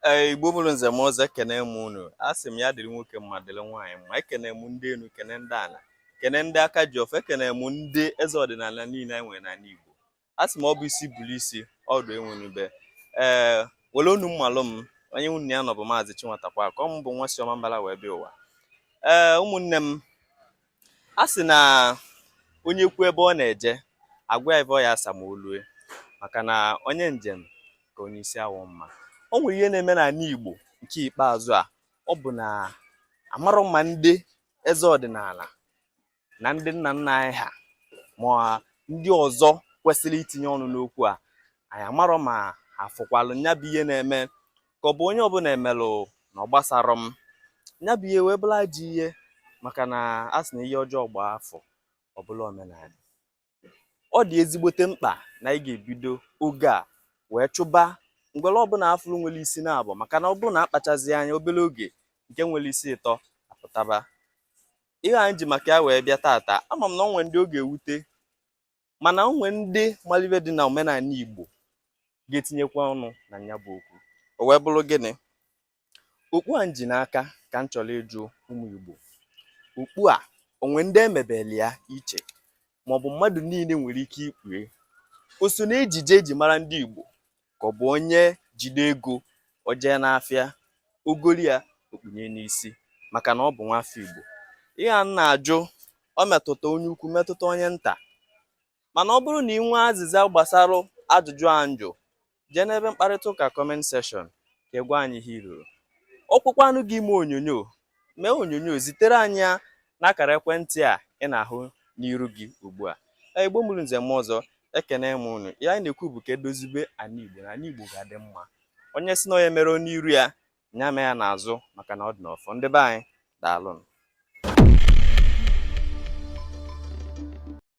Ee, Igbo mụrụ nze mụọ ọzọ ekene m unu asị m ya dịrị nwoke mma dịrị nwaanyị mma ekene m ndị enu kene ndị ana kene ndị aka ji ọfọ ekene m ndị eze ọdịnala niile anyị nwere n'ana Igbo asị m ọ bụ isi bụrụ isi ọdụ enwenube ee were unu mmalụ m onye unu na-anụ bụ maazị Chinwatakweakụ ọ m bụ nwa si Ọmambala wee bịa ụwa ee ụmụnne m a sị na onye kwu ebe ọ na-eje a gwa ya ihe ọ ya asa ma o lue maka na onye njem ka onye isi awọ mma o nwere ihe na-eme n'ana Igbo nke ikpeazụ a ọ bụ na amarọ m ma ndị eze ọdịnala na ndị nna nna anyị ha ma ndị ọzọ kwesịrị itinye ọnụ n'okwu a anyị amarọ ma afụkwalụ nya bụ ihe na-eme ka ọ bụ onye ọbụla emelụ na ọ gbasarọ m nya bụ ihe wee bụlụ ajọ ihe maka na a sị na ihe ọjọọ gbaa afọ ọ bụlụ omenana ọ dị ezigbote mkpa na anyị ga-ebido oge a wee chụba ngwere ọbụla afụrụ nwere isi naabọ maka na ọ bụrụ na akpachazi anya obere oge nke nwere isi ịtọ apụtaba ihe anyị ji maka ya wee bịa tata ama m na ọ nwere ndị ọ ga-ewute mana o nwe ndị malụ ive dị na omenana Igbo ga-etinyekwa ọnụ na nya bụ okwu o wee bụrụ gịnị okpu a nji n'aka ka m chọrọ ịjụ ụmụ Igbo okpu a o nwere ndị e mebeli ya iche maọbụ mmadụ niile nwere ike ikpu ya o so na ejije eji mara ndị Igbo ka ọ bụ onye jide ego o jee n'afịa o goli ya o kpunye n'isi maka na ọ bụ nwafọ Igbo ihe m na-ajụ ọ metụta onye ukwu metụta onye nta mana ọ bụrụ na ị nwee azịza gbasara ajụjụ a njụ jee n'ebe mkparịta ụka comment section ka ị gwa anyị ihe i roro ọ gụkwanụ gị ime onyonyo mee onyonyo zitere anyị ya n'akara ekwentị a ị na-ahụ n'iru gị ugbu a Ee, igbo mụrụ nze mụọ ọzọ ekene m unu ihe anyị na-ekwu bụ ka edozibe ana igbo na ana igbo ga-adị mma onye si na onye mere n'iru ya nya mee ya n'azụ maka na ọ dị n'ọfọ ndị be anyị daalụnụ